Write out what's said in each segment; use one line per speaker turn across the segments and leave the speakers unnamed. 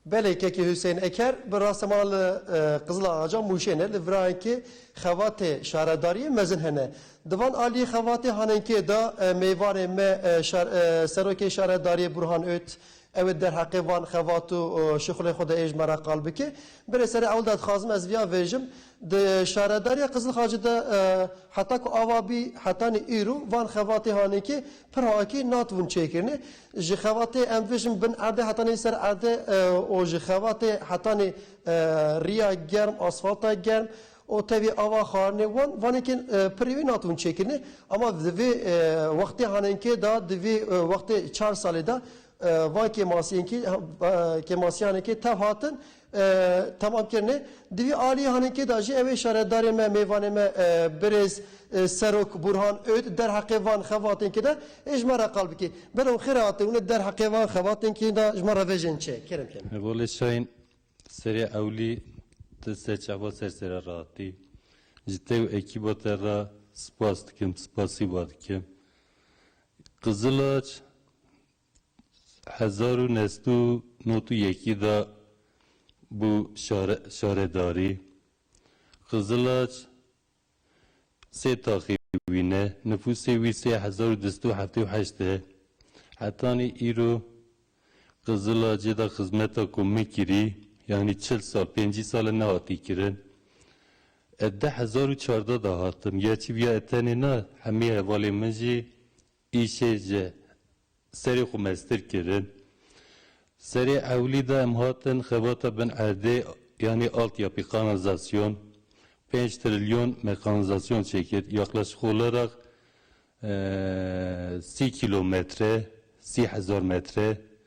Belê kekê Husên Eker bi rastî mala li Qizilaxaca Mûşê ne li virayenkê xevatê şaredariyê mezin hene. Di van aliyê xevatê hanenkê de mêvanê me Serokê Şaredariyê Burhan Öt, Ew ê derheqê van xevat û şixulên xwe de ê ji me re qal bike. Berê serê ewil de dixwazim ez viya vêjim, di şaredariya Qizilxacê de heta ku ava bî hetanî îro van xevatê hanekê pir hakî natibûn çêkirinê. Ji xevatê em vêjim bin erdê hetanî ser erdê û ji xevatê hetanî riya germ, asfalta germ O tevî ava xwarinê wan vanekên pirrî wî natin çêkirinê ama di vê wextê hanenkê de di vê wextê çar salê de van kêmasiyênkî kêmasiyanekê tev hatin temam kirinê. Di vî aliyê hanenkê de jî ew ê şaredarê me, mêvanê me birêz Serok Burhan Öd derheqê van xevatênkî de ê ji me re qal bike. Bero xêr e hatê hûn ê derheqê van xevatênkî de ji me re vejên çê. Kerem kene. Bolê Şahin Serê ewlî tu sê çava ser sere rahatî. Ji te û ekîba te re spas dikim, spasî we dikim. Qizilac hezar û neh sed û nod û yekî de bû şaredarî. Qizilac Sê taxê wî ne, nifûsê wî sê hezar û du sed û heftê û heşt e. Hetanî îro Qizilacê de xizmeta ku min kirî, yanî çil sal, pêncî sal e nehatî kirin. Ez di hezar û çardeh de hatim, ya çi bûya ez tenê na, hemî hevalên min jî Îşê ji serê xwe mestir kirin. Serê ewlî de em hatin xebata bin erdê yanî altyapî kanalizasyon, pênc trilyon me kanalizasyon çêkir, yaqlaşîk oleraq sî kîlometre, sî hezar metre.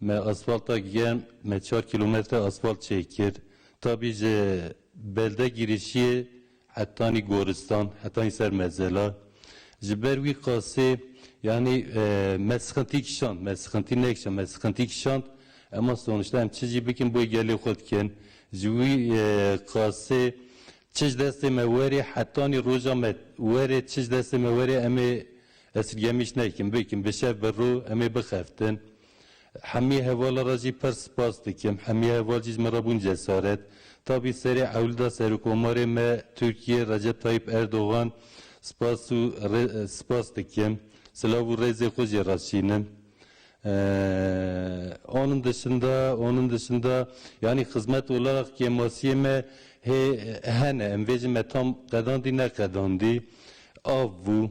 Me asfalta germ me çar kîlometre asfalt çêk kir tabî ji belde girişiyê hetanî goristan hetanî ser mezela ji ber wî qasê yanî me sixintî kişand me sixintî nekişand me sixintî kişand ema sonişta em çi jî bikin boy gelê xwe dikin ji wî qasê çi ji destê me werê hetanî roja me werê çi ji destê me werê em ê Ez ti gemîş nekim, bikim, bi şev bi rû em ê bixeftin. Hemî hevala re jî pirs spas dikim. Hemî heval jî ji min re bûn cesaret. Tabî serê ewlda Serokomarê me Tirkiyê Recep Tayîp Erdogan spas û rê spas dikim. Silav û rêzê xwe jê re şînim. Onun dışında, onun dışında yani hizmet olarak kemasiyê me hê hene. Em vê jin me tam qedandî neqedandî. Av bû.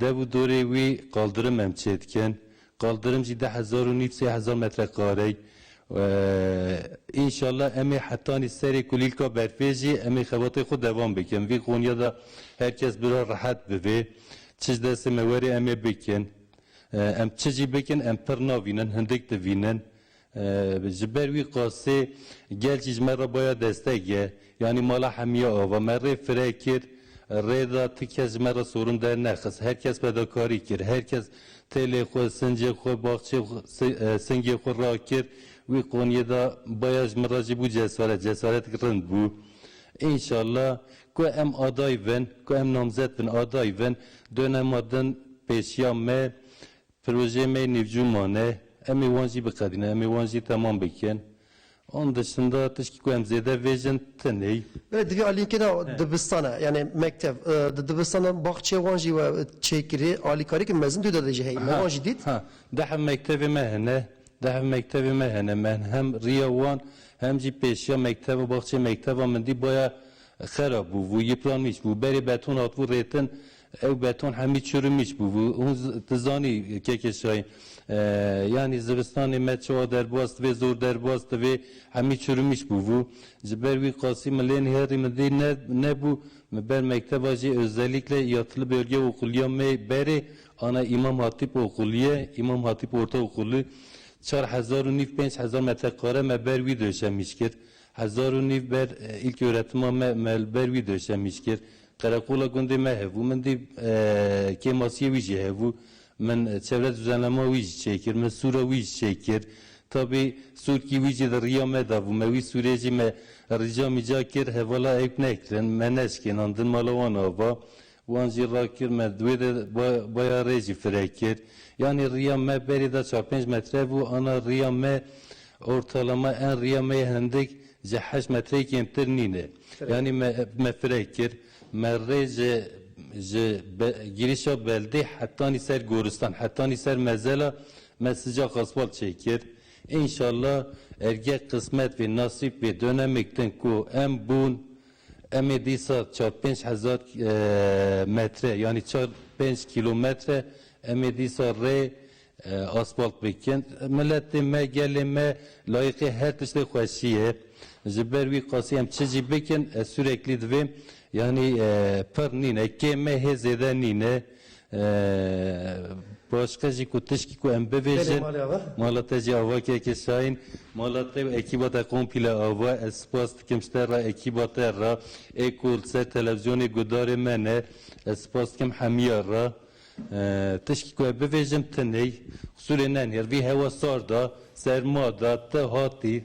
Dev û dorê wî qaldirim em çêdikin. Qaldirim jî deh hezar û nîv sê hezar metre karey. Înşallah em ê hetanî serê kulîlka berfê jî em ê xebatê xwe devam bikin. Vî Konya de her kes bira rehet bivê. Çi ji destê me were em ê bikin. Em çi jî bikin em pirr navînin, hindik divînin. Ji ber wî qasê gel jî ji me re baya destek ye. Yanî mala Hemiye Ava me rê fire kir, rê da ti kes ji me re sorin dernexist. Her kes fedakarî kir. Her kes têlê xwe, sincê xwe, baxçê xwe, singê xwe rakir. Wî qaniyê da baya ji min re jî bû cesaret. Cesaretik rind bû. Înşala ku em aday bin, ku em namzet bin aday bin, done ma din pêşiya me Pirojeyê me nêvcû mane, em ê wan jî biqedînin, em ê wan jî temam bikin. Onun dışında tişkî ku em zêde vêjin tinê. Belê divê alînkê de dibistane yanî mektev. Di dibistan de baxçeyê wan jî we çêkirî. Alîkariyeke mezin dû de jî heye. Me wan jî dît. Dehf mektevê me hene. Dehf mektevê me hene. Me hem rîya wan hem jî pêşiya mekteva baxçeyê mekteva min dî baya xerab bû. Vû yipranîş bû. Berê beton hatibû rêtin. Ew beton hemî çûr û mîç bûbû. Hûn tu zanî Keke Şahin yanî zivistanê me çawa derbas divê, zor derbas divê, hemî çûr û mîç bûbû. Ji ber wî qasî min lê nihêrî min dî ne nebû. Min ber mekteba jî özellikle ya Tili Bölge Okulu ya me berê ana Îmam Hatîp Okuluye, Îmam Hatîp Orta Okulu. Çar hezar û nîv pênc hezar metrekare me ber wî döşemîş kir. Hezar û nîv ber îlköretima me me li ber wî döşemîş kir. Qereqola gundê me hebû. Min dî kêmasiyê wî jî hebû. Min çevre duzanama wî jî çêkir. Min sûra wî jî çêkir. Tabî sûrkî wî jî di riya me de bû. Me wî sûrê jî me rîca mîca kir hevala ewk nekirin. Me neşkênandin mala wan ava. Wan jî rakir me di wê de baya rê jî fireh kir. Yanî riya me berî da çar pênc metre bû ana riya me ortalama en riya me yê hindik ji heşt metreyê kêmtir nîne. Yanî me me fireh kir. Me rê ji ji girîşa beldê hetanî ser goristan hetanî ser mezela me sicaq asfalt çêkir. Înşallah erge qismet bê nasîb bê donemêk din ku em bûn Em ê dîsa çar pênc hezar metre yanî çar pênc kîlometre em ê dîsa rê asfalt bikin. Miletê me, gelê me layiqê her tiştê xweşî ye. Ji ber wî qasî em çi jî bikin ez sûreklî divêm yanî pir nîne, kêm e hê zêde nîne. Başka jî ku tişkî ku em bibêjin mala te jî ava keke Şahin mala te û ekîba te komple ava ez spas dikim ji te re ekîba te re ê ku li ser televîzyonê guhdarê me ne ez spas dikim hemîya re tişkî ku ez bibêjim tu ney Xûsûrê ne nêr vî hewa sar de serma de tu hatî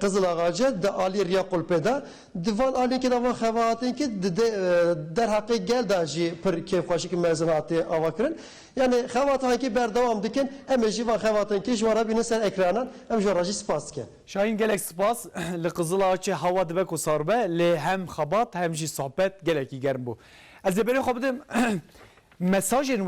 Qizilaxace di aliyê riya qulpê de di van aliyekê de van xebahatênkê di dê derheqê gel de jî pir kêfxweşik mezin hatiye avakirin. Yanî xebata hankî berdewam dikin. Em ê jî van xebatankê ji wan re bînin ser ekranan. Em ji wan re jî spas dikin. Şahîn gelek spas. Li Qizilaxaçê hewa dibe ku sar be lê hem xebat hem jî sohbet gelekî germ bû. Ez ê berê xwe bidim mesajên